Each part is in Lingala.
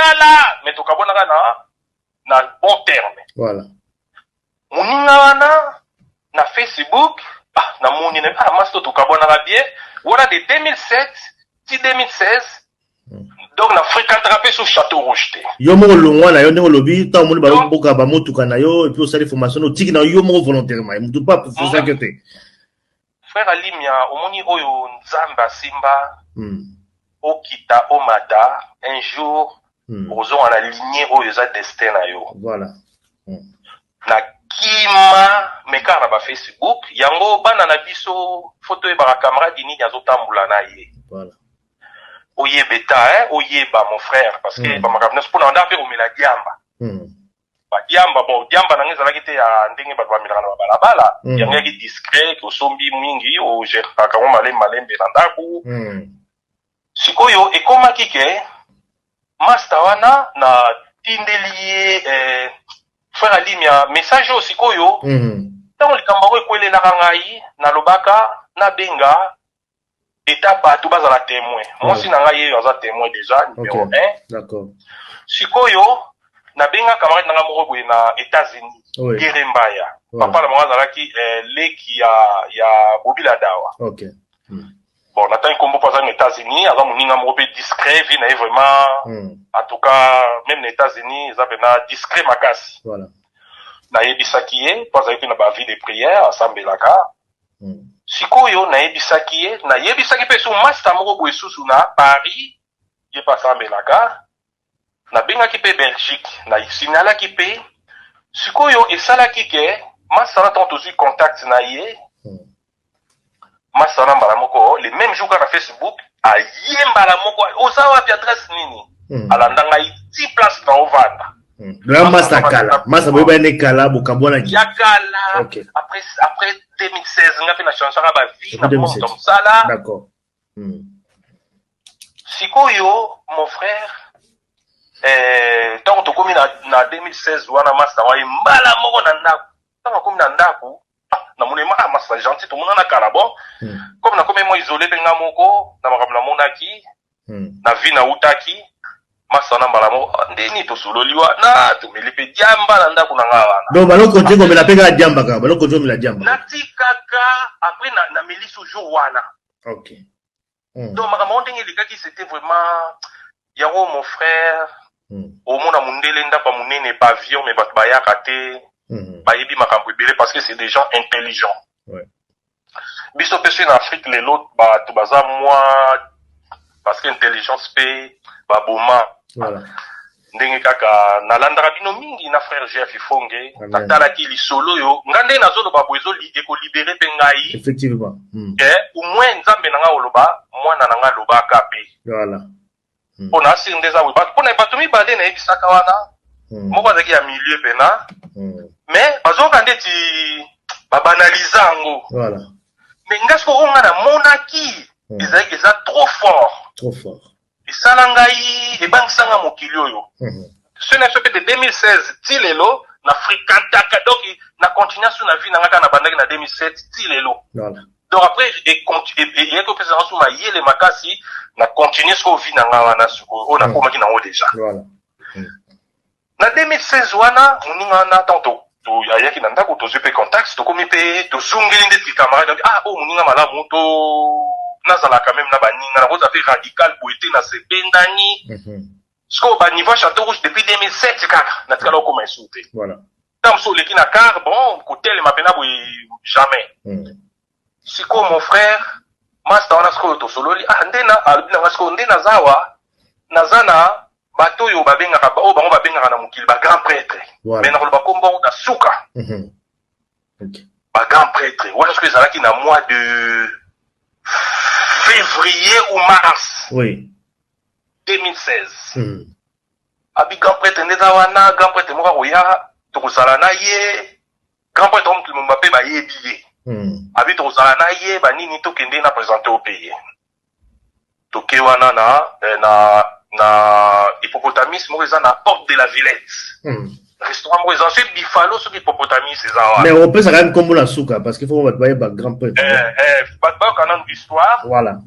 kala mais tokabwanaka na na bon terme voilà moninga wana na facebook ah namoni na ah masi to tokabwanaka bien wana de 2007 ti 2016 hmm. donc na fréquentaka mpe so château rouge te yo moko longwa na yo ndenge olobi ntango omoni baboka bamotuka na yo epuis osali formation otiki na yo moko volontairement motu mpe apofosaki yo te Frère Alimia omoni oyo nzambe asimba okita omata un jour okozonga na lignee oyo eza destin na yo voilà na kima mais kaka na ba Facebook yango bana na biso faut toyebaka camarade nini azo tambola na ye voilà oyebeta hein oyeba mon frère parce que ba makambo nionso pona nda pe omela diamba ba diamba bon diamba na ngai ezalaki te ya ndenge bato bamelaka na babalabala mm. yango yaki discret osombi mingi ogeraka yango malembe malembe na ndako mm. sikoyo ekomaki ke masta wana na tindeli ye eh, frère alimia message oyo sikoyo mm. ntango likambo yango ekwelelaka ngai nalobaka nabenga eta bato bazala temoin ah. mwasi na ngai yeyo aza temoin deja numero okay. 1 d'accord sikoyo nabenga camarade na ngai moko boye na états-unis oui. gere mbaya oui. papa na bango azalaki eh, leki ya, ya bobila dawa okay. hmm. bon natangi nkombo mpo aza na états-unis aza moninga moko mpe discret vie na ye vraiment hmm. en tout cas même na états-unis eza mpena discret makasi voilà. nayebisaki ye mpo azalaki mpe na bavie de prière asambelaka Mm. sikoyo nayebisaki ye nayebisaki mpe su masta moko boye susu na paris ye mpe asambelaka nabengaki mpe belgique na signalaki mpe sikoyo esalaki ke masana ntango tozwi contact na ye mm. masana mbala moko le même jour kaka na facebook aye mbala moko oza wapi adresse nini mm. alanda ngai ti place na ovanda Hmm. Grand Masta Kala. Masta boyeba ne Kala bokabwana ki. Ya Kala. Okay. Après après 2016 nga pe na change ba vie na monde comme ça là. D'accord. Hmm. Sikoyo mon frère eh tant tokomi na na 2016 wana Masta wa mbala moko na ndako. Tango akomi na ndaku, ah na moni ah ma sa gentil to monana kala bon. Hmm. Comme na komi mo isoler pe nga moko na makambo na monaki hmm. na vie na utaki masa na mbala moko ah, ndeni to sololi wa na to meli pe diamba na ndaku na nga wana. Donc balo continue ko mela pe ka diamba ka balo continue mela diamba. Na tikaka après na na meli sous jour wana. Okay. mm. donc makambo yango ndenge elekaki c'était vraiment yango mon frère mm. omona mundele ndako ya monene bavion mais bato bayaka te mm. bayebi makambo ebele parce que c'est des gens intelligents ouais. biso mpe soki na afrique lelo bato baza mwa parce que intelligence mpe baboma voilà. ndenge kaka nalandaka bino mingi na frère jeff ifonge natalaki lisolo oyo nga nde nazoloba bo ekolibere mpe ngai effectivement mm. ke omwin nzambe na ngai oloba mwana na ngai alobaka mpe voilà hmm. mpo mm. na asiri nde eza boye mpo na bato mibale nayebisaka wana mm. moko azalaki ya milieu mpena mm. mais bazoyoka ndeti babanaliza yango voilà. mais nga soko oyo nga namonaki mm. ezalaki eza trop fort trop fort Esala ngai ebangisa nga mokili oyo. Soki na biso pe de 2016 ti lelo na frequentaka donc na continua su na vie na nga kaka na bandaki na 2007 ti lelo. Donc après eyaki kopesa nga su mayele makasi na continue sikoyo vie na nga wana sikoyo oyo nakomaki na yango dejà. Na 2016 wana muninga wana tango to to ayaki na ndako tozui mpe contacts tokomi mpe tozongeli nde ti camarade donc ah oyo moninga malamu to nazala quand même na baninga nakozala mpe radical boye te na se bendani sikoyo ba niveau ya chateau rouge depuis 2007 kaka natikala okoma esu te ntango mosusu oleki na car bon kotelema mpena boye jamais Sikoyo mon frère masta wana sikoyo tosololi ah nde na alobi na nga sikoyo nde nazawa naza na bato oyo babengaka oyo bango babengaka na mokili ba grand prêtre voilà. mais nakoloba kombo yango na suka mm -hmm. okay. ba grand prêtre wana sikoyo ezalaki na mois de février ou mars oui. 2016 mm -hmm. abi grand prêtre nde eza wana grand prêtre moko akoya tokozala na ye Grand prêtre Homme Lumumba pe ba yebi ye. Hmm. Abi tokozala na ye ba nini to kende na presenter au pays. Toke wana na eh, na na hippopotamus moko eza na porte de la Villette. Hmm. Restaurant moko eza soki Buffalo soki hippopotamus eza wana. Mais opesa quand même kombo na suka parce qu'il faut ba ba ba grand prêtre. Eh eh ba ba kana histoire. Voilà.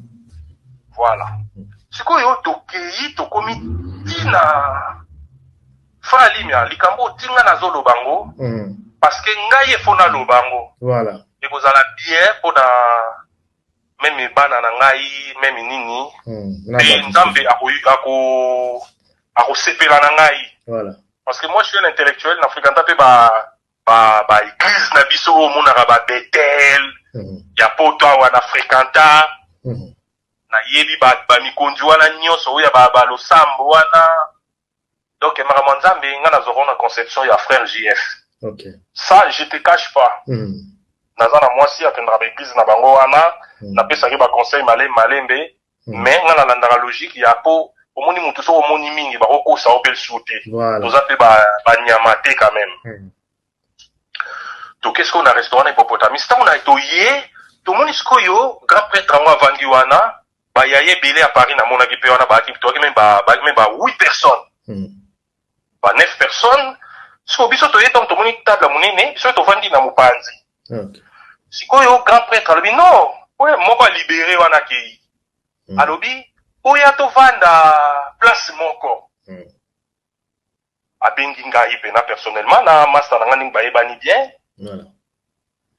Voilà. Hmm. Sikoyo tokeyi tokomi tina Frère Limia, likambo otii nga nazo loba ngo, mm. parce que ngai il faut naloba yango voilà. ekozala bien mpo na meme bana na ngai meme nini hmm, mpe mm, nzambe akosepela na ngai voilà. parce que moi je suis un intellectuel na fréquenta mpe ba baeglise ba na biso oyo omonaka babetel mm. Mm-hmm. ya poto awa na fréquenta mm. Mm-hmm. nayebi bamikonzi ba wana nyonso oyo ya balosambo ba wana donc makambo ya nzambe ngai nazwaka na conception ya frère jf okay. ça je te cache pas mm. naza na mwasi akendaka baeglize na bango wana mm. napesaki baconseil male malembe mm. mais ngai nalandaka logique ya po omoni motu soki omoni mingi bakokosa yo mpe lisusu te toza mpe banyama te quand même mm. toke sikoyo na restaurant na hippopotamis ntango na toye tomoni sikoyo grand pretre yango avandi wana bayaye ebele ya paris namonaki mpe wana baaki toyaki meme baaki meme ba 8 personnes hmm. ba 9 personnes sikoyo biso toye ntango tomoni table monene biso tovandi na mopanzi okay. sikoyo grand pretre alobi non oyo moko alibere wana akei hmm. alobi oya tovanda place moko hmm. abengi ngai pena personnellement na masta na ngai ndenge bayebani bien voilà.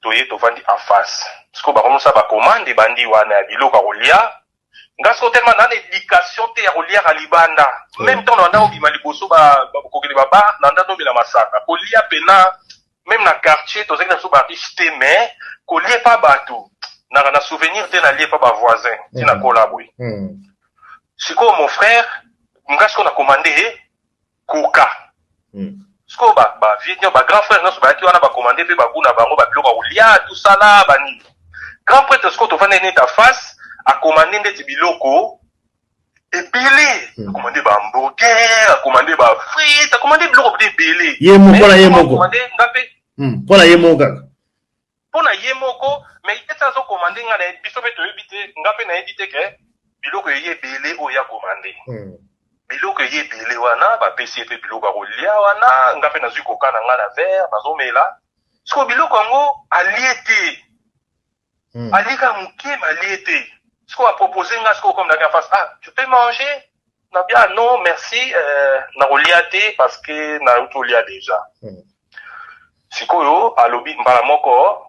toye tovandi en face sikoyo bakomisa bacommande ebandi wana ya biloko ya kolia nga sikoyo telema na na éducation te ya koliaka libanda meme temps nanda obima liboso kokende babar nanda nomela masanga kolia pena meme na quartier tozalaki na biso bariche te mais kolie pa bato naka na souvenir te nalie pa bavoisin ti nakola boye sikoyo mon frère nga sikoyo na commande ye koka hmm. sikoyo bavie nio bagrand frère nyonso bayaki wana bakomande mpe bagu na bango babiloko ya kolia tosala banini grand prêtre sikoyo tofandi nini ta face akomande ndeti biloko ebele hmm. akomande ba hamburger akomande ba frite akomande biloko mpe ebele ye moko na ye moko nga mpe mpo na ye moko kaka pona ye moko mais ye ti azo commande nga naye biso pe toyebi te nga pe nayebi te ke biloko eye ebele oyo ya commande hmm. biloko eye ebele wana bapesi ye pe biloko ya kolia wana nga pe nazwi koka na nga na vere nazomela siko biloko yango alie te hmm. alieka moke ma alie te siko apropose nga siko comme nake en face ah tu peux manger Na bia non merci euh, na kolia te parce que na yoki olia deja hmm. sikoyo alobi mbala moko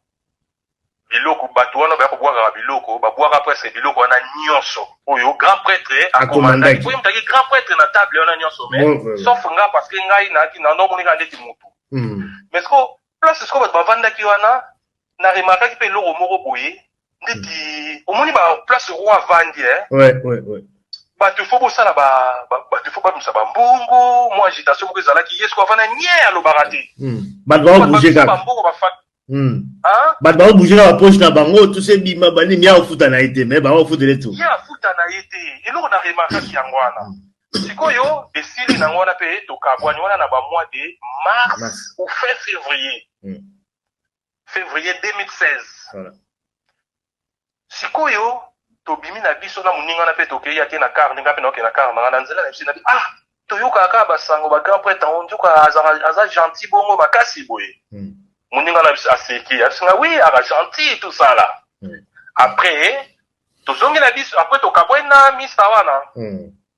biloko bato wana baya kobwakaka biloko babwaka presque biloko wana nyonso oyo grand prêtre akomandaki po yemutaki grand prêtre na table wana nyonso mais sauf nga parce que ngai nayaki na ndomoneka ndeti motu hmm. mais siko place siko bato bavandaki wana na remarkaki mpe eloko moko boye ndeti hmm. omoni ba place roi avandi eh? ouais, ouais, ouais. bato ifo bosala bato ifo bamisa bambongo mwa agitation moko ezalaki ye soko avanda nye alobaka te hmm. bato baobouge kaka bambongo bafati hmm. bato baobouge na bapoche na bango tuse bima banimi ya ofuta na ye te me bango ofutele tu ye afuta na ye te eloko na remarkaki yango wana sikoyo esili nango wana mpe tokabwani wana na bamoi de mars ou fin février fevrier 2016 voilà. sikoyo tobimi na biso na moninga na mpe tokei ake na kar ndenge mpe naoke na kar nanga na nzela na biso nabi ah toyokaka kaka basango ba grand prêtre yango nzoka aza gentil bongo makasi boye hmm. moninga na biso aseki abisinga wi aka gentil tosala hmm. après tozongi na biso après tokabwai na misa wana hmm.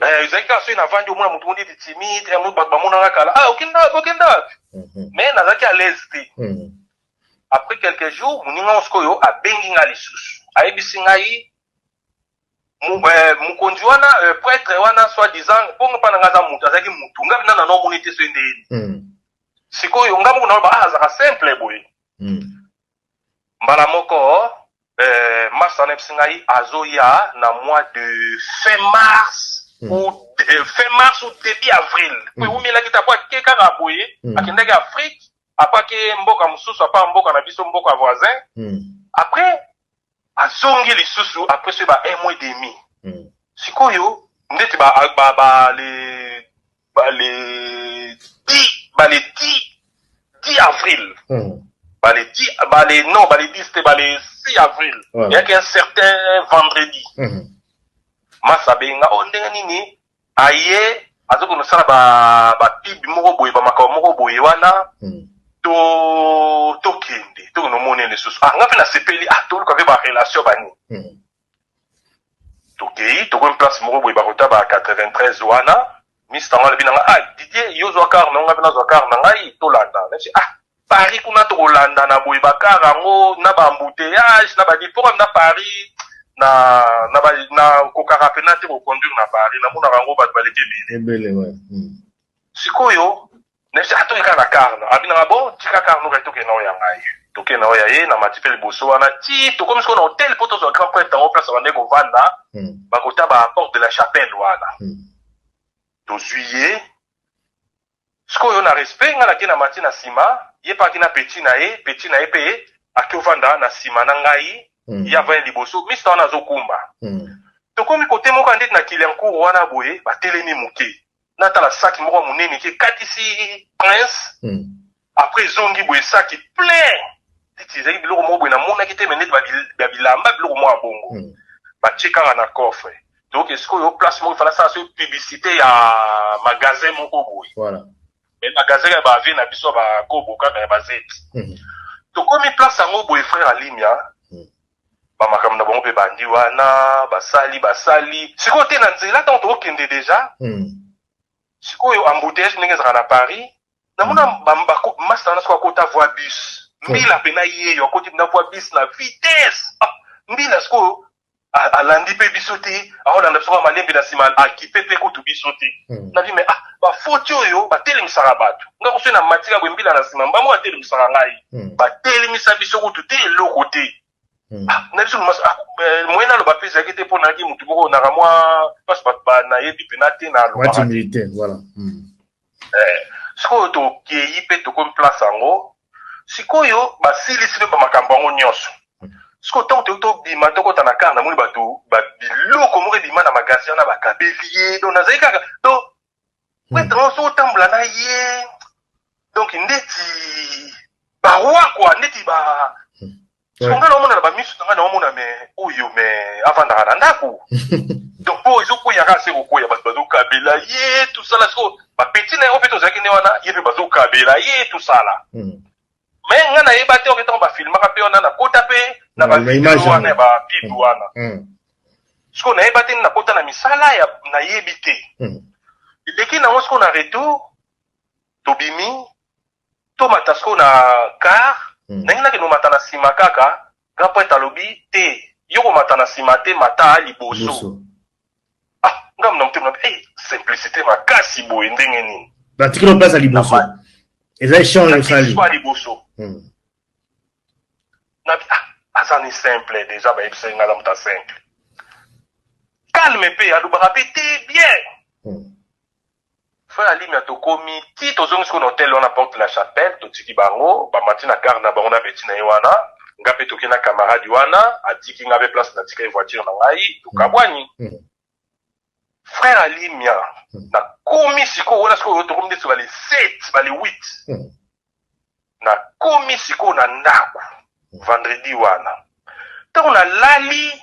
Eh, ezalaki kaka soki navandi omona motu mo neti timide eh, bato bamonaka kala ah, okenda wapi okenda wapi mhm. mais nazalaki à l'aise te mhm. après quelques jours moninga yango sikoyo abengi ngai lisusu ayebisi ngai eh, mokonzi wana prêtre wana soit disant mpongo mpa na ngai aza motu azalaki motu ngai mpena nano omoni te soki ndeyeni mhm. sikoyo ngai moko naloba ah, azalaka simple boye mbala moko euh, masta na biso ngai azoya na mois de fin mars mm. ou euh, fin mars ou début avril mm. eumelaki te apo ake kaka boye mm. akendaki afrique apo ake mboka mosusu apa mboka na biso mboka voisin mm. après azongi lisusu après ce ba un mois et demi mm. sikoyo ndeti ba, ba, ba le ba le 10 ba le 10 10 avril mm. ba le 10 ba le non ba le 10 te ba le 6 avril ouais. yaki un certain vendredi mm. masa benga o oh, ndenge nini aye aza kende kosala ba ba pub moko boye ba makambo moko boye wana hmm. to tokende tokende omona ye lisusu ah nga mpe nasepeli ah toluka mpe ba relation bani hmm. tokei tokomi place moko boye bakota ba 93 wana mister ngo alobi na nga ah didier yo zwa kar na yo nga mpe nazwa kar na ngai tolanda nasi ah Paris kuna toko landana boye ba car yango na ba embouteillages na ba nini po na Paris na na ba na kokaka pena te ko conduire na Paris na monaka yango batu baleki ebele ebele ouais hmm. sikoyo na bisi atoki kaka na car na abina nga bon tika car no kaki tokende na oya ngai tokende na oya ye na mati pe liboso wana ti tokomi sikoyo na hotel po tozwa grand prêtre yango place abandaki kovanda hmm. bakota ba porte de la chapelle wana hmm. tozwi ye Sikoyo na respect nga nake na mati na sima ye pe ake na petit na ye petit na ye pe ake ovanda na sima na ngai ye avandi liboso mista wana azo kumba tokomi kote moko ya ndeti na kiliancourt wana boye ba telemi moke na tala saki moko ya monene ki ekatisi prince apres ezongi boye saki plein ndeti ezalaki biloko moko boye namonaki te me ndeti ba bilamba biloko moko ya bongo mm. batie kaka na coffre donc esikoyo place moko efana sala soki publicité ya magasin moko boye voilà. me magasin ya bavie na biso ya bakobo kaka ya bazeti mm. tokomi place yango boye frère alimia mm. bamakambo na bango mpe bandi wana basali basali sikoyo te na nzela ntango tokokende deja mm. sikoyo embouteillage ndenge ezalaka na paris namona masta wana soki akota voi bus mbila mpe na yeyo akoti na voi bus na vitesse ah, mbila sikoyo alandi mpe biso te aolanda biso kaka malembe na nsima akipe mpe kutu biso te hmm. nabi me ah bafoti oyo batelemisaka bato nga koso na matika boye mbila na nsima mbango batelemisaka ngai hmm. batelemisa biso kutu te eloko te hmm. ah, na biso ah, eh, moyen naloba mpe ezalaki te mpo nayaki motu moko naka mwa mpasi bato banayebi mpena te naloba Ee, sikoyo tokei mpe tokomi place yango. Sikoyo, basilisi mpe bamakambo yango nyonso. Sikoyo, ntango toyei tobima, tokota na kar, namoni bato, ba, biloko moko ebima na magasi wana, bakabeli ye. Donk, nazali kaka, donk, pretre yango, soki otambola na ye, donk, ndeti baroi, kua, ndeti ba, Sombele omona na ba misu na nga na omona me oyo me avandaka na ndako. Donc po ezo koya ka se ko koya bato bazo kabela ye tout ça là siko ba petit na yo pe tozalaki ne wana ye pe bazo kabela ye tout ça là. Mm. Mais nga na yeba te oke tango ba filmaka pe wana na kota pe na ba video wana ya ba pub mm. wana. Mm. Siko na yeba te na kota na misala ya na yebi te. Mm. Eleki na ngo siko na retour tobimi To mata sikoyo na car hmm. Ndenge na kendo mata na sima kaka Grand prêtre alobi te Yo ko mata na sima te mata liboso Ah nga mna mte mna hey, eh, simplicité makasi boye ndenge nini Na tikilo place à liboso Eza échange au sali Na liboso hmm. Na ah aza ni simple déjà ba yebisa nga na mta simple Calme pe alobaka pe te bien hmm. Fin ya limya tokomi tii tozongi sikoyo na hotel wana porte de la chapelle totiki bango ba mati na car na bango na beti na ye wana nga pe toke na camarade wana atiki nga pe place na tika ye voiture na ngai tokabuani frère ya limya na komi sikoyo wana sikoyo tokomi ndeti bale 7 bale 8 na komi sikoyo na ndako vendredi wana ntango na lali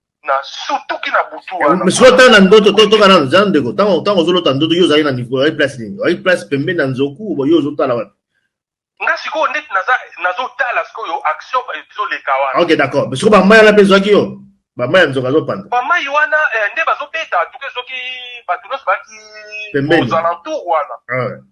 na sutuki na butu eh, wana sikoyo tanga na ndoto totoka nano za ndeko ntango ntango ozolota ndoto yo ozali na niveau ozali place nini ozali place pembeni na nzoku bo yo ozotala wapi nga sikoyo neti nazotala sikoyo action ezoleka wana ok d'accord mais sikoyo bamai wana mpe ezwaki yo bamai ya nzoka azopanda bamai wana eh, nde bazobeta tuke soki bato nyonso baki ozalentour wana ah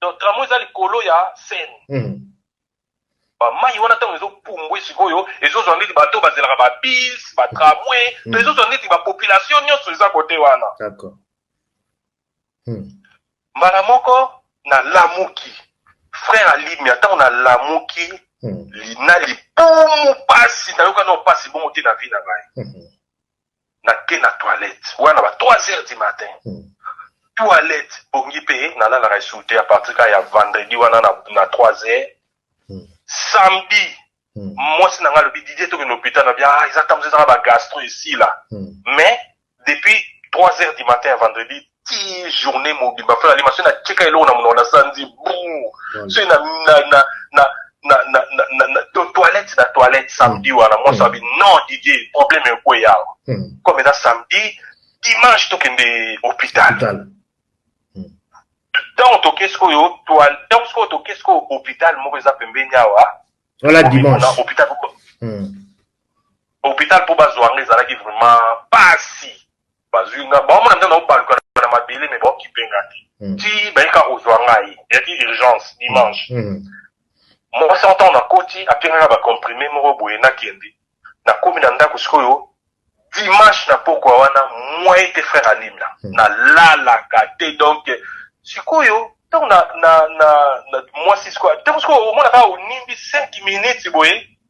donc tramway eza likolo ya seine mm. bamai wana ntango ezopumbwe sikoyo ezozwa ndeti bato oyo bazelaka babis batramway mm. to ezozwa ndeti bapopulation nyonso eza kote wana mm. mbala moko nalamuki frère alimia ntango nalamuki mm. na libumu mpasi nayoka nao mpasi bongo te na vi na ngai mm -hmm. nake na toilette wana ba 3 heures du matin hmm. toilette bongi mpe nalalaka esuku te apartir kaka ya vendredi wana na, na 3 heures hmm. samedi hmm. mwasi na ngai alobi didie tokende hôpital na bia ah, eza ntango ezaka bagastro esila mais depuis 3 heures du matin ya vendredi ti journée mobimba fana lima soki natyeka eloko na monoko nasala nzi buu soki na toilette na toilette samedi hmm. wana mwasi abi hmm. non didie problème ekwe yawa hmm. comme eza samedi dimanche tokende hôpital ntango toke sikoyo ntango sikoyo toke sikoyo hôpital moko eza pembeni awa wana dimanche hôpital hôpital mpo bazwa yango ezalaki vraiment pasi bazui nga ba mona nde na obaluka na mabele mais ba okipe nga te mm. ti baika kozwa ngai yaki urgence dimanche mm. mm. moi sans temps na koti apengaka ba comprime moko boye na kende na komi na ndako sikoyo dimanche na pokwa wana moi ete frère alimla mm. na lalaka te donc sikoyo ntango na na na, na mwasi sikoyo ntango sikoyo omonaka onimbi 5 minutes boye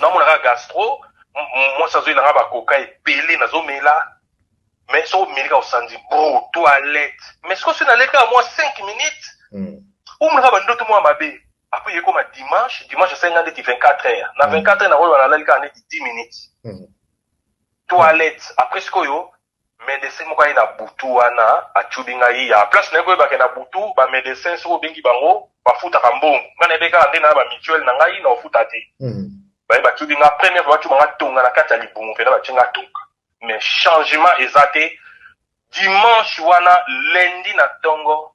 na mona ka gastro mwasi azoyi na nga ba coca ebele nazo mela mais soki omeli ka osanzi bro toilette mais soki soki naleli kaka mwa 5 minutes mm. omona ka bandoto mwa mabe apres ekoma dimanche dimanche esengi nga ndeti 24 heure na 24 mm. heure nakoyeba nalali kaka ndeti 10 minutes mm. toilette apres sikoyo Medecin moko aye na butu wana achubi ngai ya place naye koyeba ke na butu ba medecin soki obengi bango bafutaka mbongo ngai nayebi kaka nde na ba mutuelle na ngai na ofuta te baye bachubi nga première fois bachuba nga tonga na kati ya libumu pena batie nga tonga mais changement eza te dimanche wana lundi na tongo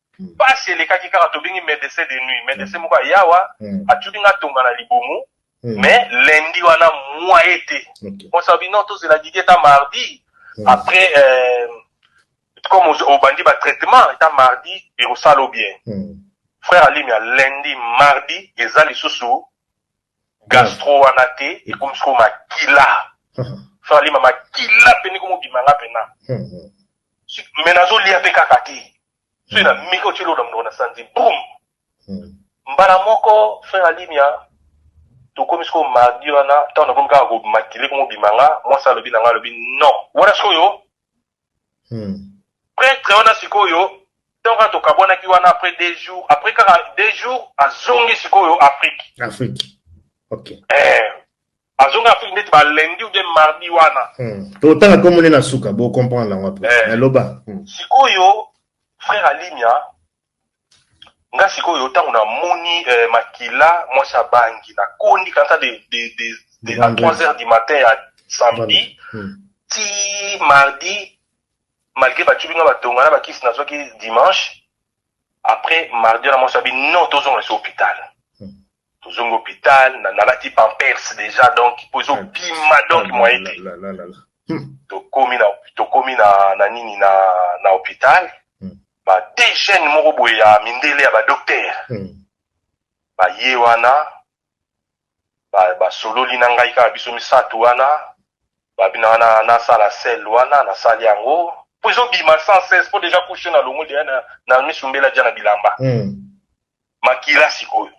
Pasi elekaki kaka tobengi medecin de nuit medecin moko aya awa atuni nga tonga na libumu mais lundi wana moyen te on sa bino tozela Didier ta mardi après euh, comme obandi ba traitement ta mardi ekosala bien frère alimia lundi mardi eza lisusu Gastro wana te ekomi sikoyo makila. Soki alima makila mpe ndenge mobima nga mpena. Mais nazolia mpe kaka te. Soki na meki otie eloko na monoko na sanzi boum. Mbala moko frère Alimia tokomi sikoyo mardi wana ntango nakomi kaka ko makila ekomi mobima nga mwasi alobi na nga alobi non wana sikoyo hmm. pretre wana sikoyo temps kaka tokabwanaki wana après deux jours après kaka deux jours azongi sikoyo afrique afrique ok eh, azongi afrique ndeti ba lundi ou bien mardi wana hmm. totanga komo nde na suka bocomprendre yango après eh. naloba hmm. sikoyo frère alimia nga sikoyo ntango namoni eh, makila mwasi abangi nakondi kanta de, de, de, de, à 3 heures du matin ya samedi hmm. ti mardi malgré batyubi nga batonga na bakisi nazwaki dimanche après mardi wana mwasi abi non tozonga esi hôpital hmm. tozongi hopital na nalati pampers deja donc po ezo bima donc moyen te hmm. tokomi na tokomi na na nini na na hopital hmm. ba deux jeunes moko boye ya mindele ya ba docteur hmm. baye wana basololi na ngai kaka biso misato wana babina wana nasala sel wana nasali yango po ezobima sans cesse po deja kushe na longo deya na miso mbela ja na bilamba mm. makila sikoyo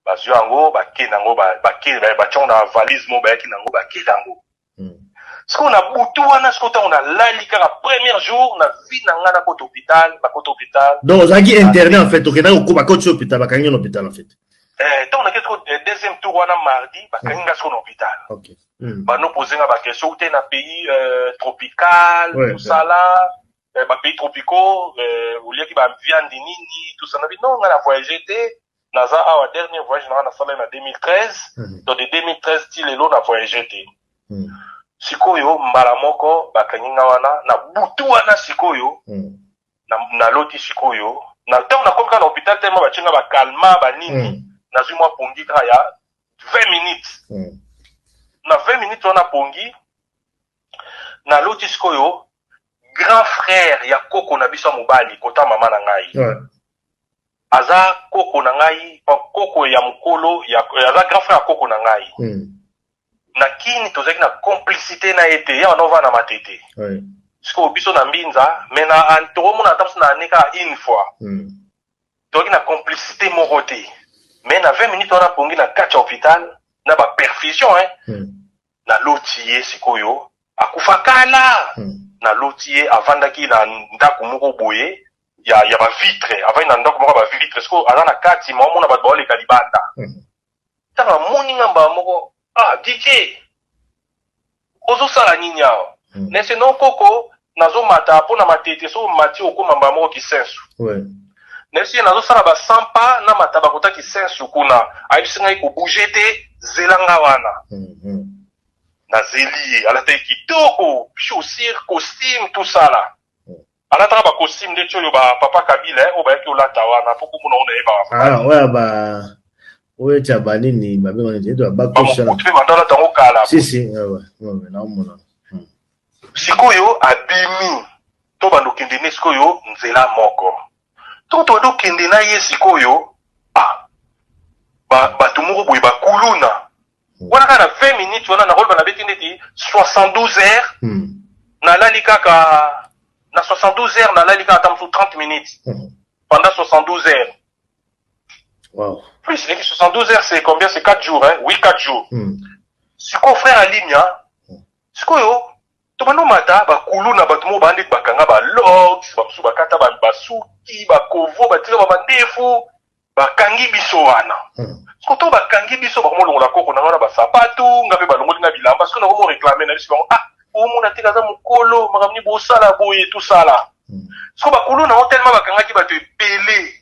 bazwi yango bake nango bake batyango na valise moko bayaki nango bake nango hmm. sikoyo na butu wana sikoyo ntango nalali kaka premier jour na vie na ngai nakota hôpital bakota hôpital donc ozalaki interne en fait okendaki okoba koti hôpital bakangi yo na hôpital en fait eh, ntango nakei sikoyo eh, deuxième tour wana mardi bakangi ngai sikoyo na hôpital hmm. banopose ngai baquestion ute na pays euh, tropical mosala eh, ba pays tropicaux eh, oliaki ba viande nini tout ça nabi non nga na voyage te naza awa dernier voyage nanga nasalai na 2013 mm. donc de 2013 ti lelo na voyage te mm. sikoyo mbala moko bakangi nga wana na butu wana sikoyo mm. naloti na sikoyo na ntango nakomi kaka na hôpital telema batye nga bakalma banini mm. nazwi mwa pongi kaka ya 20 minutes mm. na 20 minutes wana pongi naloti sikoyo grand frère ya koko na biso ya mobali kota mama na ngai ouais. aza koko na ngai koko ya mokolo ya, aza grand frère ya koko na ngai mm. na kini tozalaki na complicité na ye te yawa naovaa na matete ouais. sikoyo biso na mbinza me na tokomona ata biso na ane kaka une fois mm. tozalaki na complicité moko te mais na 20 minutes wana pongi na kati ya hôpital na baperfusion hein, mm. na loti ye sikoyo akufa kala hmm. na loti ye avandaki na ndako moko boye ya ya ba vitre avandi na ndako moko ba vitre sikoyo aza na kati ma omona bato baoleka libanda hmm. ntango amoni nga mbala moko ah didie ozosala nini awa hmm. nese no koko nazo mata po na matete soki omati okoma mbala moko kisensu ouais. nayebisi ye nazosala ba 100 pa na mata bakota kisensu kuna ayebisi ngai kobouge te zela nga wana mm -hmm. nazeli ye alataki kitoko chaussure costume tosala mm. alataka ba costume ndeti oyo ba papa kabila eh, oyo bayaki olata wana po komona ona ye baoya ba oyo tya banini babengani te to babakutu mpe bandalata yango kala si si naomona Sikoyo abimi to bando kende ne sikoyo nzela moko to to ado kende na ye sikoyo ah ba bato moko boye ba kuluna hmm. wana kaka na 20 minutes wana na role bana beti ndeti 72 heures hmm. na lali kaka na 72 heures na lali kaka tamsu 30 minutes hmm. pendant 72 heures wow. plus leki 72 heures c'est combien c'est 4 jours hein oui 4 jours hmm. sikoyo frère alimia Sikoyo tobandi omata ba kuluna batu moko bandi bakanga ba locks ba mususu bakata ba basuki ba kovo batika ba mandefu bakangi biso wana hmm. sikoyo to bakangi biso bakomo longola koko nanga na basapatu nga mpe balongoli nga bilamba sikoyo nakomo reklame na biso bango ah omona te kaza mokolo makambo nini bosala boye tosala hmm. sikoyo bakulu nango telema bakangaki bato ebele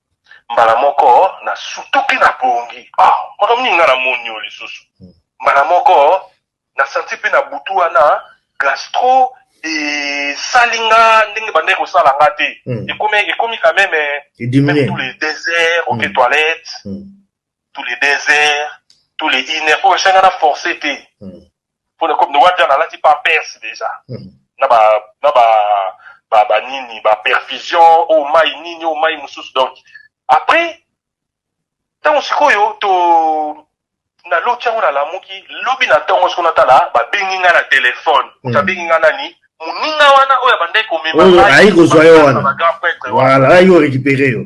Mbala moko nasutuki na pongi. Ah, makambo nini nga namoni yo lisusu? Hmm. Mbala moko nasanti mpe na butu wana gastro esali nga ndenge bandaki kosala nga te. Hmm. Ekomi ekomi quand même eh, tous les deux heures oke hmm. toilette. tous les deux heures tous les une heure oyo esenga na force te hmm. mpo na comme noa jana alati pa perse déjà hmm. na ba na ba ba ba nini ba perfusion oyo oh, mai nini oyo oh, mai mosusu donc après ntango sikoyo to naloti yango nalamuki lobi na ntongo soko natala babengi ngai na telefone moto hmm. abengi ngai nani moninga wana oyo abandaki komema ayi kozwa yo wana wala ayi orekipere yo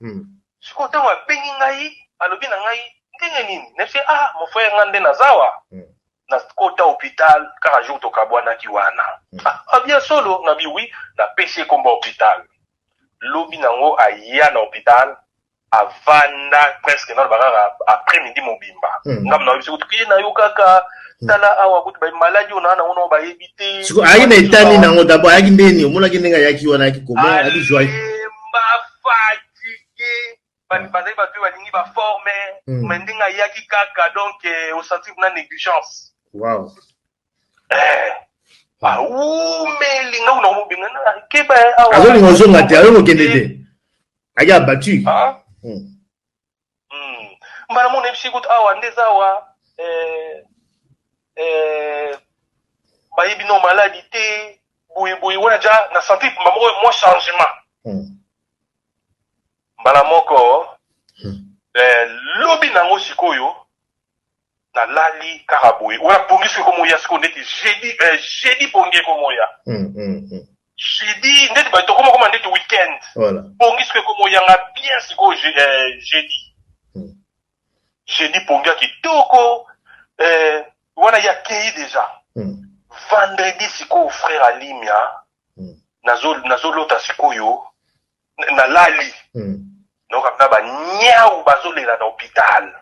Hmm. Siko tango abengi ngai, alobi na ngai, ndenge nini? Nayebisi ah mon frère ngai nde nazawa. Hmm. Nakota hopital kaka jour tokabwanaki wana. Hmm. Ah, ah bien solo, nabi oui, napesi ye kombo hopital. Lobi nango aya na hopital, avanda presque naloba kaka après midi mobimba. Hmm. Ngambo na yebisi kutu kiye na yo kaka hmm. tala awa kutu ba maladie ona na ona bayebi te. Siko ayi na etani nango d'abord ayaki ndeni, omonaki ndenge ayaki wana ayaki comment, ayaki joyeux. fatigue ah. bazali bato balingi baforme mm. me ndenge ayaki kaka donc eh, osentir na négligence wow. eh. bawumeli nga kuna komobenga nakeba azolinga ozonga te ayo kokende te ake abattu ah. hmm. hmm. mbala mona ebisi kutu awa nde eza awa eh, eh, bayebi no maladi te boyeboye wana ja na santi mpamba moko mwa changement hmm. mbala moko hmm. eh, lobi nango sikoyo na lali kaka boye oya pongi soki komoya siko ndeti jeudi eh, jeudi pongi ekomoya mm, mm, mm. jeudi ndeti bato komakoma ndeti weekend voilà. pongi soki ekomoyanga bien sikoyo je, eh, jeudi mm. jeudi pongi ya kitoko eh, wana ya kei deja mm. vendredi sikoyo frère alimia mm. nazolota nazo sikoyo nalali hmm. naokabina baniau bazolela na hopital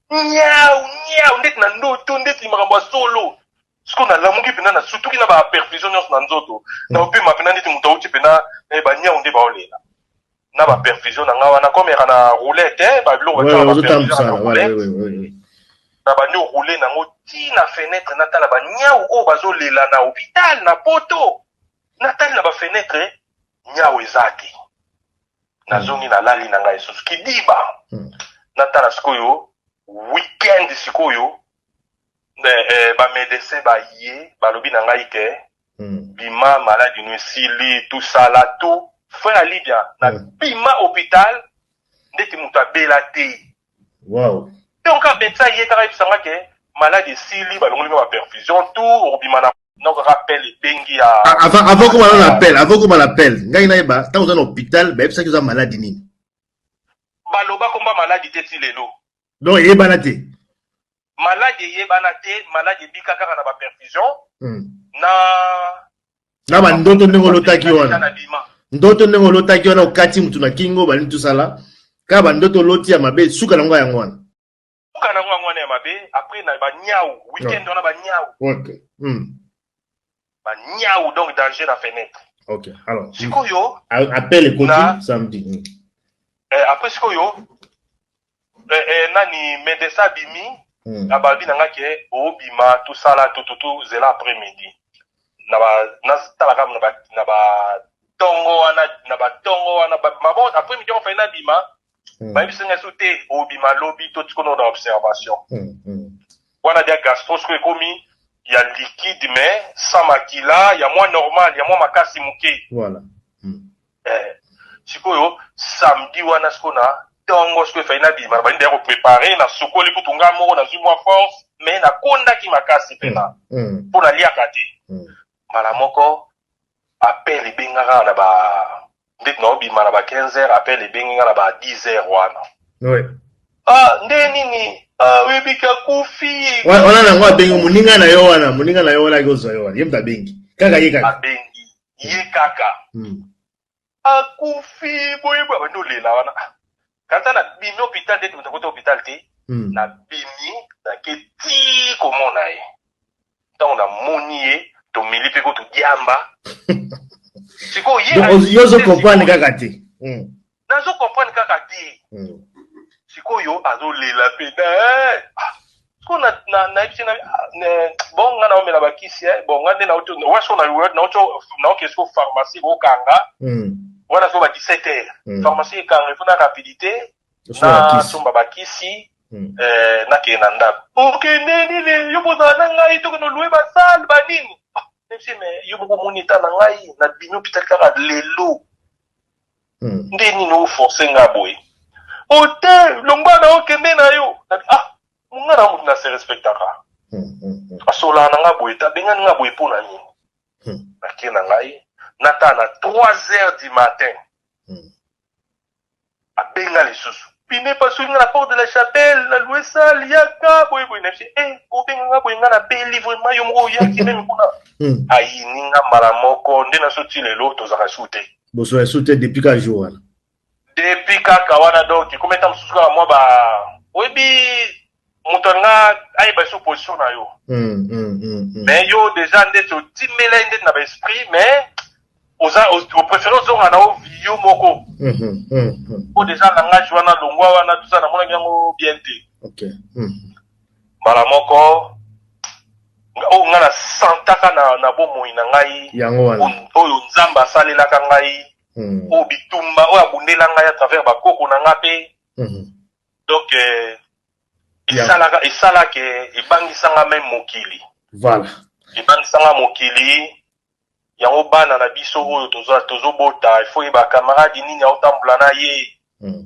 niau niau ndeti na ndoto ndeti makambo ya solo siko nalamuki mpena na sutuki na baperfusion nyonso na nzoto hmm. naopema mpena ndeti moto auti mpena eh, baniau nde baolela na baperfusion na ngai wana komeka na roulette eh, babiloko na bandi oroule nango ti na fenetre natala baniau oyo bazolela na hopital na poto natali na bafenetre nyau eza te nazongi na lali na ngai lisusu kidiba hmm. natala sikoyo weekend sikoyo eh, eh, bamedecin baye balobi na ngai ke hmm. bima maladi no esili tosala to fin ya libia na hmm. bima hôpital ndeti moto abela te Wow. Tango kaka Betsa aye kaka ayebisa nga ke malade esili balongoli nga ba perfusion tout okobima na noko kaka appel ebengi ya Avant avant okoma na appel, avant okoma na appel, ngai nayeba tango oza na hopital bayebisaki oza malade nini? Baloba komba malade te ti lelo. Donc eyebana te. maladi eyebana te maladi ebika kaka na baperfusion hmm. na na bandoto ndenge olotaki wana ndoto ndenge olotaki wana okati motu na kingo balingi tosala kaka bandoto oloti ya mabe suka nango yango wana suka nango yango wana ya mabe apres na baniau weekend wana baniau hmm. ba niawu donc danger na fenêtre ok alors sikoyo appel ekoti samedi hmm. eh, après sikoyo eh, eh, nani medesa bimi hmm. na babi na nga ke obima tosala tututu zela après midi na ba natala kaka na ba tongo wana na ba tongo wana mabon après midi ofai nabima Mm. bayebisi ngai so te obima lobi to tikono na observation mm, mm. wana dia gastro soko ekomi ya liquide mais sans makila ya mwa normal ya mwa makasi moke voilà. mm. eh, sikoyo samedi wana siko na ntongo siko efali nabima nabandi ndeya koprepare nasukoli kutu ngai moko nazwi mwa force mais nakondaki makasi mpena mpo mm, mm. naliaka te mm. mbala moko Appel ebenga kaka na ba ndeti na obima na ba 15 heures appel ebengi nga na ba 10 heures wana. Oui. Ah nde nini? Ah oyebi ka kufi. Wana wana nango abengi moninga na yo wana, moninga na yo wana akozwa yo wana. Ye moto abengi. Kaka ye kaka. Abengi ye kaka. Hmm. akufi boye boye abandi olela wana ah, kanta na bimi hôpital te totakota hôpital te hmm. na bimi nake ti komona ye ntango namoni ye tomeli mpe ko todiamba sikoyo ye yo ozo comprendre kaka te hmm. nazo comprendre kaka te hmm. sikoyo azolela mpe na eh, ah, Siko na na na yebisi na bon nga na omela ba kisi eh bon nga nde na oto wa siko na word na oto na oke siko pharmacie ko kanga mm. wana siko ba 17 heures mm. pharmacie e kanga faut na rapidité na somba ba kisi mm. eh, na ke na ndako ok ne ni le yo boza na ngai to no louer ba salle ba nini ah, mais yo moko moni ta na ngai na bino pital kaka lelo Hmm. nde nini oforce nga boye oyo te longwa na okende na yo ah monga na moto na se respectaka hmm, hmm, asolaa na nga boye te abengani nga boye mpo na nini nake na ngai nata na 3 heures du matin abenga lisusu pine epasuki nga na porte de la chapelle na lue sale yaka boye boye naye e eh, obenga nga boye nga na beli vraimen yo moko oyaki meme kuna ayini nga mbala moko nde naso ti lelo tozalaka su te boso ya sute depuis ka jour wana depuis kaka wana donc ekomi ata mosusu kaka mwa ba oyebi moto alinga ayeba biso position na yo mm, mm, mm, mm. mais yo deja ndeti otimela ye ndeti na baesprit mais oza opréféré ozonga na ovio moko mm -hmm, mm -hmm. po deja langage wana longwa wana tuza namonaki yango bien te okay. mm -hmm. Mbala moko, nga- oyo nga na santaka na, na bomoi na ngai, Yango wana. oyo- oyo Nzambe asalelaka ngai, Mm. oyo bitumba oyo abundela ngai à travers bakoko na ngai mpe Mhm. donc eh, Ya. esalaka esalaka eh, ebangisa ngai meme mokili Voilà. ebangisa ngai mokili yango bana na biso oyo tozo- tozobota ifo ye bacamarade nini aotambola na ye Mm.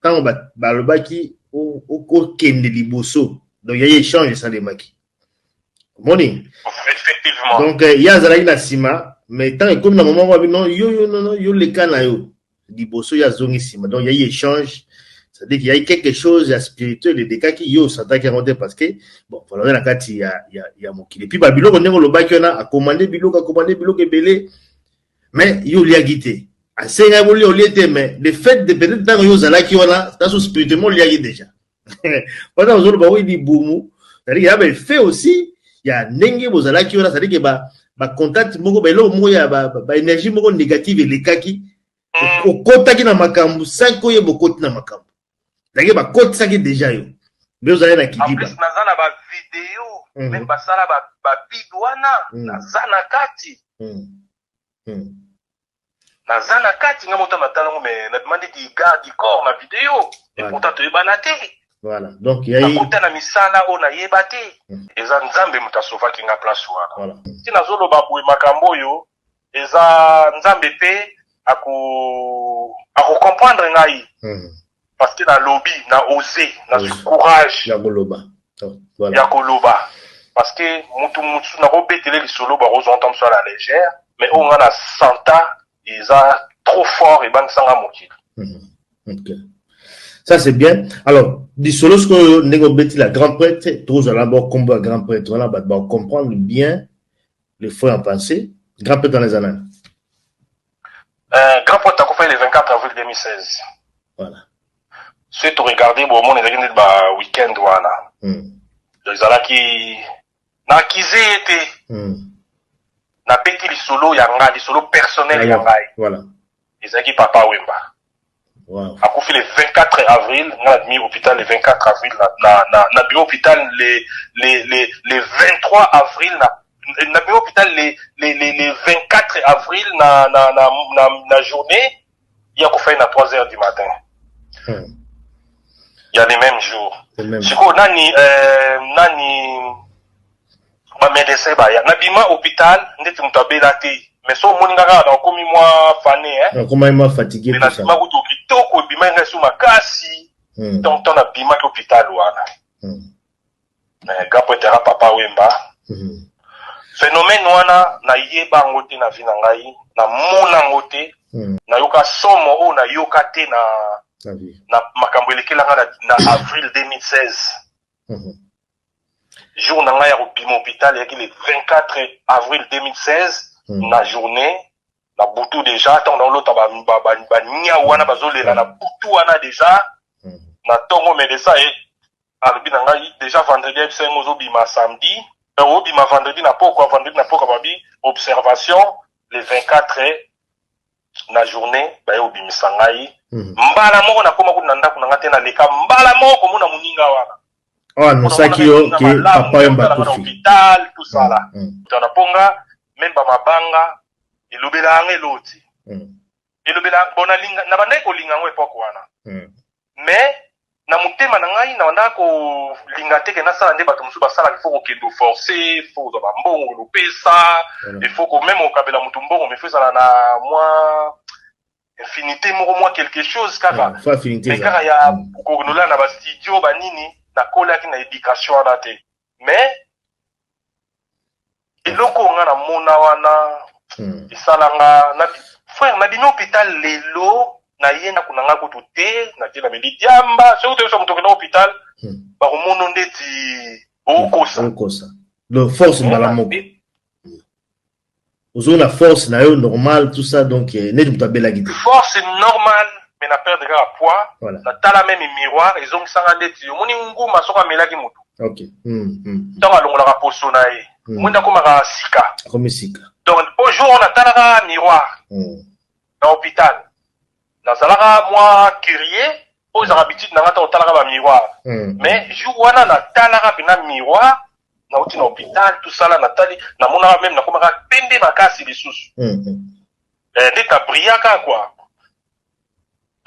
ntango balobaki okende liboso donc ya échange esalemaki omoni donc euh, ye azalaki na nsima mais ntango ekomi na moment wabi non yo yo nono yo leka na yo liboso ye azongi nsima donc yai échange c'est-à-dire qu'il y a eu quelque chose ya spirituel elekaki yo osantaki yango te parce que bon valore na kati ya, ya, ya mokili epuis babiloko ndenge olobaki wana akomande biloko akomande biloko ebele mais yo oliaki te asenga yango olia olie te mais le fait de peut-être ntango yo ozalaki wana taso spirituellement oliaki déjà wana ozoloba oyi libumu c'est-à-dire ya baeffet aussi ya ndenge bozalaki wana c'est-à-dire ke ba bacontact moko baeloko moko ya baénergie moko négative elekaki okotaki na makambo sanko ye bokoti na makambo ndenge bakotisaki deja yo nde ozali na kidiba naza na bavideo mm. meme basala babid wana mm. naza na kati mm. Mm. naza na kati nga moto matala ngo me nademande di garde du corps na video e pourtant toyebana te voilà donc yakuta na misala oyo nayeba te mm. eza nzambe moto asovaki nga place wana ti nazoloba boye makambo oyo eza nzambe pe ako ako comprendre ngai hmm. parce que na lobi na ose na zwi courage ya koloba oh, voilà. ya koloba parce que mutu mutu na ko betele lisolo ba ko zonta mso la légère mais oyo nga na santa eza trop fort et bang sanga mokili hmm. ok ça c'est bien alors lisolo sikoyo ndenge obeti la grand prêtre tozala bo kombo ya grand prêtre wana bato ba comprendre bien le faux en pensée grand pete wana eza nani euh, grand pete akufai le 24 avril 2016 voilà soki toregarde bomona ezalaki ndeti ba weekend wana hmm. donc ezalaki nakize ye te hmm. nabeti lisolo ya ngai lisolo personnel ya ngai voilà. ezalaki papa wemba Wow. Akufi le 24 avril, nga na bimi hopital le 24 avril na na na na bimi hopital le le le le 23 avril na na bimi hopital le le le le 24 avril na na na na, na journée ya kufa ye na 3 heures du matin. Hmm. Ya le même jour. Le même jour. Sikoyo nani euh, nani ba medecin baya na bima hopital ndeti mutu abela te mais so omoni nga kaka na okomi mwa fane hein nakomaki mwa fatigue mais na bima kutu kitoko ebimaki ngai so makasi hmm. donc temps na bimaki hopital wana hmm. mais gapo etera papa wemba hmm. phénomène wana nayeba yango te na vie na ngai namona yango te hmm. nayoka somo oyo nayoka te na na makambo elekela ngai na, na avril 2016 hmm. jour na ngai ya kobima hôpital eyaki le 24 avril 2016 mm. na journée na butu deja ntango naolota baniau ba, ba, ba, ba wana bazolela na butu wana deja mm. na ntongo medecin ye alobi na ngai deja vendredi ayebisa yango ozobima samedi donc obima vendredi na pokwa vendredi na pokwa babi observation le 24 na journée baye kobimisa ngai Mhm. mbala moko nakoma kutu na ndako na ngai te naleka mbala moko komona moninga wana oyo anonsaki yo Namonaka ke malamu, papa yomba namonaka na akufi hôpital tout ça là Mm, tana mpo nga meme bamabanga elobela yanga eloti mm, elobela bon nalinga nabandaki kolinga yango epoke wana mm, mais na motema na ngai nabandaka kolinga te ke nasala nde bato mosusu basalaka ifo kokende oforce ifo kozwa bambongo lopesa ifo mm. komeme kokabela moto mbongo mifo ezala na mwa infinité moko mwa quelque chose kaka mm, me kaka ya mm. konola na bastudio banini nakolaki na éducation wana te mais eloko nga na mona wana hmm. esala nga na frère na bino hôpital lelo na ye ndako na nga kutu te na te na meli diamba soki toyesa moto okenda hôpital hmm. bakomono ndeti okosa donc force mbala moko ozo na force na yo normal tout ça donc euh, neti moto abelaki te force normal mais na perdre kaka poids voilà. na tala meme miroir ezongisanga ndeti omoni nguma soko amelaki motu okay. mm, mm. mm. ntango alongolaka poso na ye mm. omoni akomaka sika akomi sika donc po jour oyo natalaka miroir mm. na hôpital nazalaka mwa curieux oyo ezalaka bitide na ngai ntango otalaka bamiroir mm. mais jour wana natalaka mpena miroir nauti na hopital tosala natali namonaka meme nakomaka pembe makasi lisusu mm -hmm. eh, nde tabriaka kua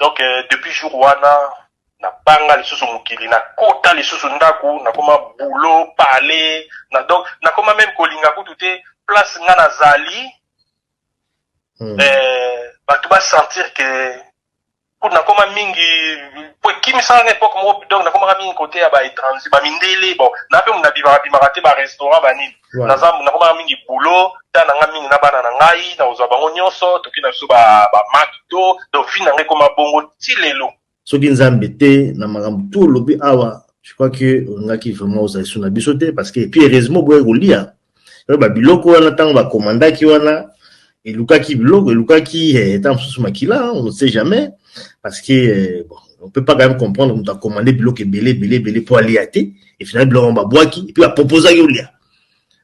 donc eh, depuis jour wana nabanga lisusu mokili nakota lisusu ndako nakoma boulot pale na donc nakoma meme kolinga kutu te place nga nazali mm. eh, bato basentir ke kutu nakoma mingi po ekimisaka nga epoque moko donc nakomaka mingi kote ya ba étranger ba mindele bon na mpe muna bimaka bimaka te ba restaurant ba nini Ouais. naza nakomaka mingi boulot ta na nga mingi na bana na ngai nakozwa bango nyonso toki na biso ba ba makito donc vie na ngai ekoma bongo ti lelo soki nzambe te na makambo tu olobi awa je crois que olingaki vraiment ozala lisu na biso te parce que puis heureusement oboyaki kolia Oyo ba biloko wana tango ba commandaki wana elukaki biloko elukaki eh, ntango mosusu makila hein, on ne sait jamais parce que eh, bon, on peut pas quand même comprendre moto akomande biloko ebele ebele ebele mpo alia te et finalement biloko yango babwaki epuis aproposaki olia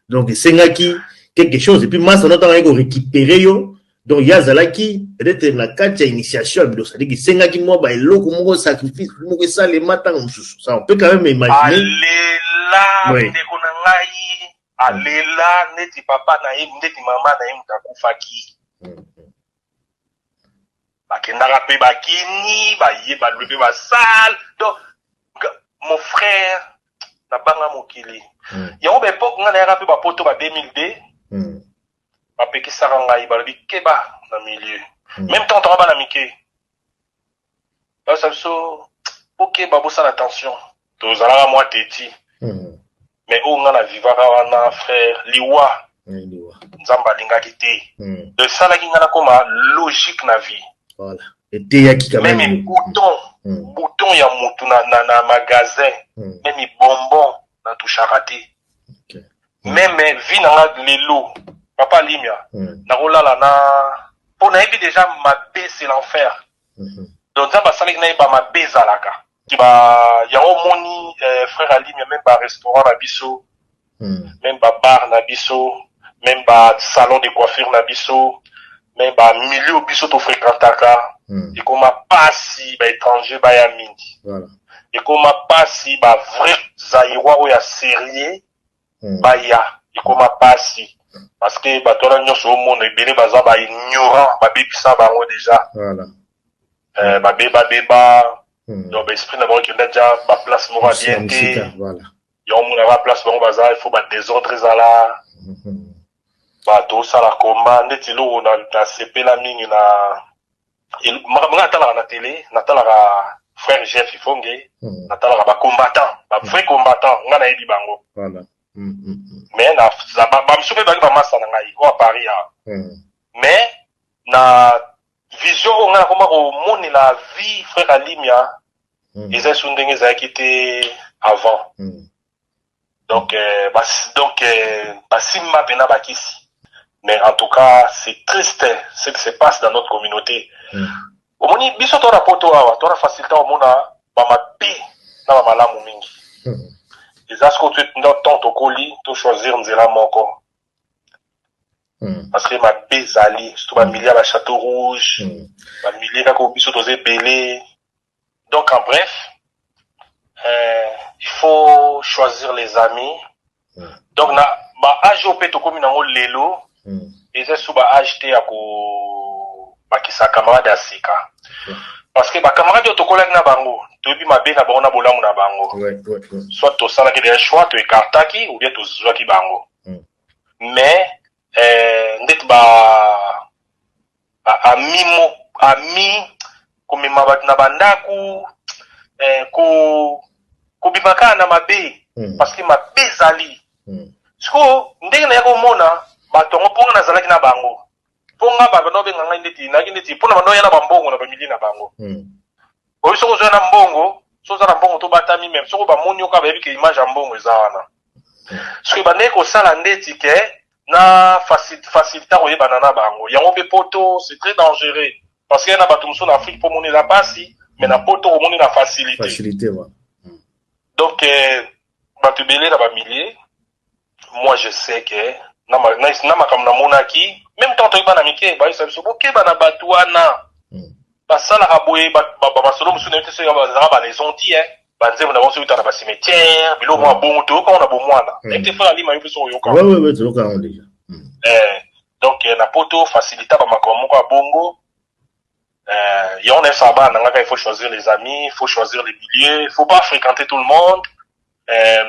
donc esengaki quelque chose epuis masa no ntango ayaki korécupere yo Donc ye azalaki peut-être na kati ya initiation ya biloko, c'est-à-dire esengaki mwa ba eloko moko sacrifice moko esalema ntango mosusu. Ça on peut quand même imaginer. alela Oui. ndeko na ngai alela neti papa na ye neti mama na ye moto akufaki Mm. bakendaka mpe bakini baye balwe mpe basale donc nga- mon frère nabanga mokili Mm. yango baepoke ngai nayaka mpe bapoto ba 2002 Mm. bapekisaka ngai balobi keba na milieu mm. meme temps tanga bana mike basa biso bokeba bosala attention tozalaka mwa teti mm. mais oyo ngai na vivaka wana frère liwa nzambe alingaki te mm. esalaki ngai nakoma logique na vie voilà. eteyaki meme bouton mm. bouton ya motu na, na, na magasin mm. meme bonbon na touchaka te okay. mm. meme vie na nga lelo papa limia mm. nakolala na mpo nayebi deja mabe c'est l'enfer mm -hmm. donc nzambe asalaki naye bamabe ezalaka yango omoni eh, frère alimia meme barestaurant na biso mm. meme babar na biso meme basalon de coiffure na biso mais ba milieu biso to frequentaka hmm. ekoma pasi ba étranger baya mingi voilà. ekoma pasi ba vrai zaïrois oyo ya sérieux hmm. baya ekoma pasi parce que bato wana nyonso omona ebele baza ba ignorant babebisa bango déjà voilà. euh, babeba beba hmm. donc baesprit na bango ekenda ja baplace moko ya bien te yango omona ba place bango baza il faut badésordre ezala hmm. ba tosala combat ndeti eloko na, na sepela mingi na el- makambo ngai natalaka na tele natalaka frère jeff ifonge Hmm. natalaka ba combattant ba vrai combattant ngai nayebi bango Voilà. Hmm, hmm, hmm, mais na za- ba- bamosusu mpe bazali bamasta na ngai oyo paris awa hmm. mais na vision oyo ngai nakoma komonela vie frère alimia Hmm, eza esu ndenge ezalaki te avant hmm, donc euh, bas, donc euh, basimba mpena bakisi mais en tout cas c'est triste ce qui se passe dans notre communauté mm. omoni biso to na poto awa to na facilité omona bamabe na bamalamu mingi mm. eza siko temps tokoli tochoisir nzela moko mm. parce que mabe ezali surtout bamilie ya bachateau rouge mm. bamilie kaka biso toza ebele Donc en bref, euh, il faut choisir les amis. Mm. Donc na ba âge oyo mpe tokomi nango lelo mm. eza su ba âge te ya kobakisa camarade ya sika mm. parce que bacamarade oyo tokolaki na bango toyebi mabe na bango na bolamu na bango ouais, ouais, ouais. soit tosalaki deja choix toekartaki ou bien tozwaki bango mm. mais eh, ndeti ba ami mo ami komema bato na bandako eh, ko kobima kaka na mabe mm. parce que mabe ezali mm. sikoyo ndenge naya komona bato yango mpo nga nazalaki na bango mpo nga bato nao benga ngai ndeti nayaki ndeti mpo na banao ya na bambongo na bamili na bango mm. Oyo soko oza na mbongo, soko oza na mbongo to batami même soko ba moni yo kaka bayebi ke image ya mbongo eza wana. Soki ebandaki kosala ndeti ke na facil facilita koyebana na bango. Yango pe poto c'est très dangereux parce que na batu mosusu na Afrique po omonela pasi mais na poto omoni na facilite. Facilite voilà. Donc batu ebele na ba milliers moi je sais que na ma- na- na makambo namonaki meme ntango toyeba na mike bayebisa biso bokeba na bato wana Mm. basalaka boye ba- ba- ba- masolo mosusu nayebi te soki bazalaka balaison ti e banzembo na bango soki otala bacimetiere biloko mwa bongo toyoka ngo na bomwana Mm. nayebi te fala lima yo mpe soki oyoka Ouais, ouais, ouais, toyoka yango déjà. Mm. Eh, donc eh, na poto facilita bamakambo moko ya bongo eh, yango na efaa bana nangaka il faut choisir les amis il faut choisir les milieux il faut pas fréquenter tout le monde eh,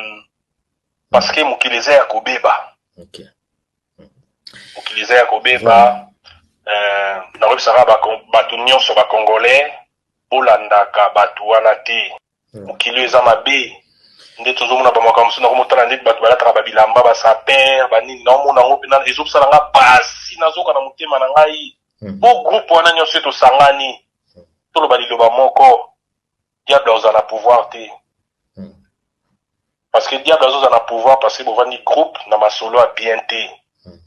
parce que mokili eza ya kobeba okay. mokili eza ya kobeba voilà. euh, nakoyebisaka bato nyonso bacongolais bolandaka bato wana te hmm. mokili oyo eza mabe nde tozomona bamakambo mosusu nako motala ndeti bato balataka babilamba basaper banini naomona yango mpe ezobisala nga pasi nazoka na motema na ngai hmm. po groupe wana nyonso tosangani hmm. toloba liloba moko diable akozala na pouvoir te hmm. parce que diable azozala na pouvoir parce que bovandi groupe na masolo ya bien te hmm.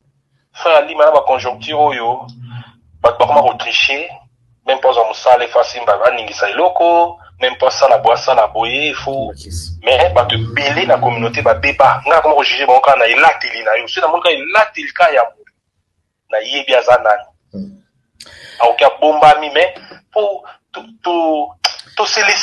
frère alima na baconjoncture oyo bato bakoma kotriche meme mpo azwa mosala efo asimba aningisa eloko meme mpo asala boye asala boye efo mais bato ebele na communauté babeba ngai akoma kojuge bango kaka na elateli na yo soki namoni kaka elateli kaka ya nayebi aza nani hmm. aoki abombami me po to, to, to, to